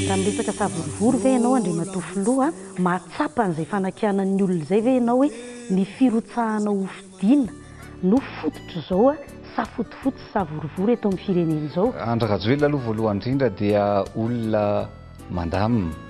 Raha miresaka savorovoro ve ianao Andriamatoa Filoha, mahatsapa an'izay fanakianan'ny olona izay ve ianao hoe ny firotsahana ho fidiana no fototr'izao safotofoto sy savorovoro eto amin'ny firenena izao? Andry Rajoelina aloha voalohany indrindra dia olona mandamina.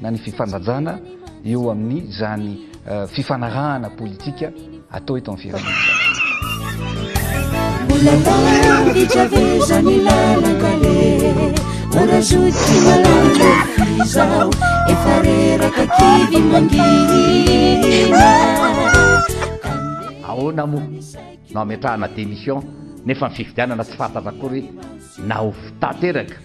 na ny fifandanjana eo amin'ny izany fifanarahana politika atao eto amin'ny firenena ahoana moa no ametrahana démission nefa ny fifidianana tsy fantatra akory na ho tanteraka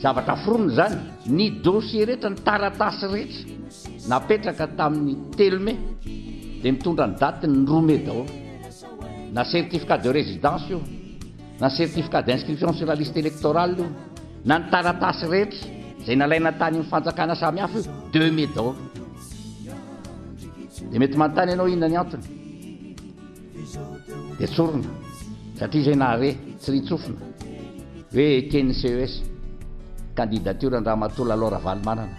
Zavatra foronina izany, ny dossier rehetra, ny taratasy rehetra napetraka tamin'ny telo mai dia mitondra ny datiny roa mai daholo. Na certificat de résidence io, na ny certificat d'inscription sur la liste électorale io, na ny taratasy rehetra izay nalaina tany amin'ny fanjakana samihafa io, deux mai daholo. Dia mety manontany ianao inona ny antony. dia tsorina satria izay nahare tsy ry tsofina hoe eken'ny ces candidature an-dRamatoa Lalao Ravalomanana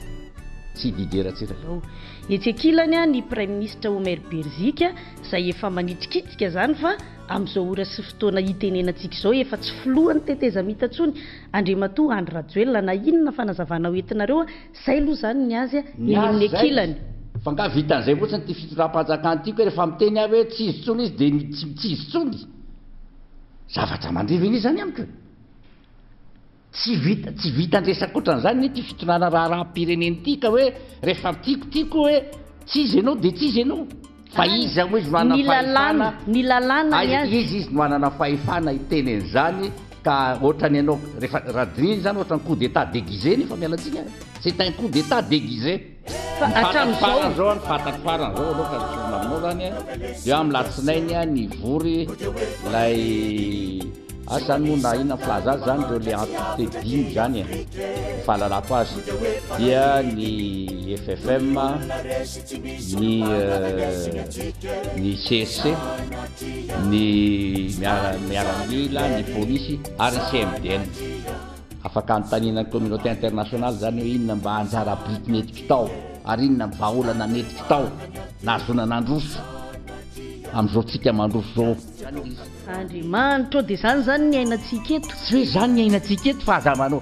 sy Didier Ratsiraka. Ao etsy ankilany an ny Praiminisitra Omer Berzika izay efa manitrikitrika izany fa amin'izao ora sy fotoana hitenenantsika izao efa tsy filohan'ny tetezamita intsony Andriamatoa Andry Rajoelina na inona fanazavana ho entinareo Zay aloha zany ny azy ny azy zay fa nga vitan'izay fotsiny ty fitondram-panjakana ty koa rehefa miteny aho hoe tsy izy tsony izy de tsy tsy izy tsony zavatra mandriva anie zany amiko e tsy vita tsy vitan-dresaka ohatran'izany anie ty fitondrana raharaham-pirenena ty ka hoe rehefa tiako tiako hoe tsy izy ianao de tsy izy ianao Fa iza moa izy no hanana fahefana? Ny lalàna, ny lalàna. Iza izy no hanana fahefana hiteny an'izany ka ohatrany ianao rehefa raha dinihina izany ohatrany coup d'etat déguisé nefa miala tsiny an! C'est un coup d'etat déguisé! Ny fantatro farany izao an, ny fantatro farany izao aloha ka ny sorona aminao izany an, dia amin'ny latsinainy an nivory ilay asa izany moa na inona filaza azy izany ireo le entité dimy izany e, ny fahalalako azy dia ny FFM, ny ny CSC, ny miara miaramila, ny polisy ary ny CMDN. Afaka anontaniana ny communauté internationale zany hoe inona mba anjara biriky nety kitao ary inona ny vahaolana nety kitao nahazoana nandroso amin'izao tsika mandroso zao. Andriamanitra ô, de zany zany ny ainatsika eto? Tsy hoe zany ny ainatsika eto fa aza manao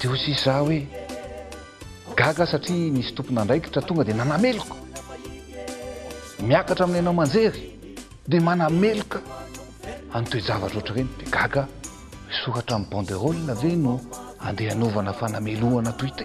Dia hoy sisa za hoe, Gaga aho satria nisy tompon'andraikitra tonga dia nanameloka. Miakatra amin'ny haino aman-jery dia manameloka an'ny toe-javatra ohatr'ireny. Dia gaga aho, hisoratra amin'ny banderole ve no andeha hanovana fanamelohana toy ity?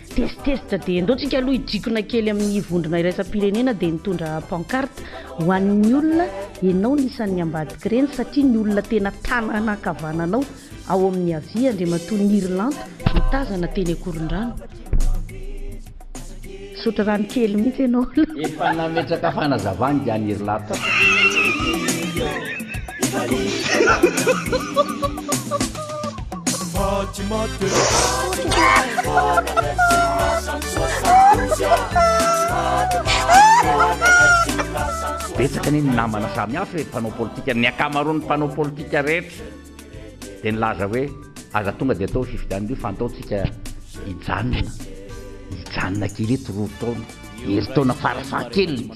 Test test dia ndao tsika aloha hidrikona kely amin'ny vondrona iraisam-pirenena dia nitondra pancarte ho an'ny olona enao ny isan'ny ambadik'ireny satria ny olona tena tanana ankavananao ao amin'ny havia Andriamatoa Nirilanto mitazana teny Ankorondrano Misaotra rano kely mihitsy enao la. Efa nametraka fanazavana i Nirilanto. Betsaka anie ny namana samy hafa e, mpanao politika, ny ankamaroan'ny mpanao politika rehetra dia nilaza hoe aza tonga dia atao fifidianana io fa antaontsika hijanona, hijanona kely eto roa taona, herintaona farafahakeliny.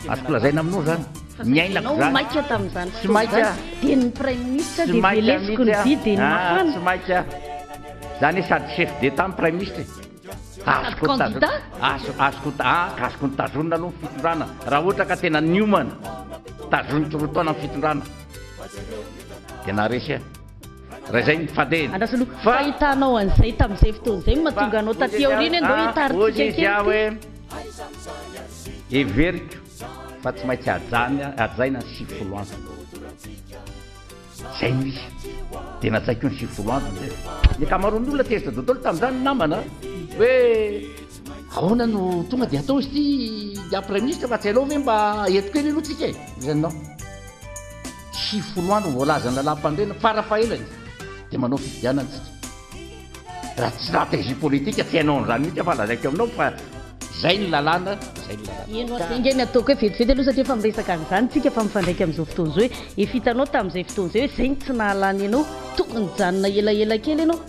Azoko lazaina aminao zany ny ainako zany. Tsy maika tamin'izany fotoana izany dia ny praiminisitra dia velesiko ny vy dia ny mafana. Tsy maika. Zany sady chef d'etat ny praiminisitra e. Azoko candidat? Azoko azoko ny tazonina aloha ny fitondrana raha ohatra ka tena niomana tazoniko roa taona ny fitondrana dia naharesy ahy. Raha izay ny fadeny. Andraso aloha. Fa ahitanao an'izay tamin'izay fotoana izay no mahatonga anao taty aoriana e, ndao hitaritsika kely ity. Heveriko fa tsy maintsy hajaina ny sivifolo andro. Izay no izy. Dia najaiko ny sivifolo andro ny ref. Ny ankamaroan'ny olona tezitra dotolo tamin'izany ny namana hoe ahoana no tonga dia atao izy ity, dia praiministra fa tsy hainao ve mba eto kely aloha tsika e? Izay no. Tsy folo andro ny voalazan'ny lalàmpandrena, farafahelany dia manao fifidianana isika. Raha tsy stratégie politique tsy hainao an'izany mihitsy aho fa lazaiko aminao fa izay ny lalàna, izay ny lalàna. Eny oa, enga ny ataoko hoe vetivety aloha satria efa miresaka an'izany isika fa mifandraika amin'izao fotoana izao e. Efa hitanao tamin'izay fotoana izay hoe izay no tsy nahalany anao, tokony hijanona elaela kely ianao.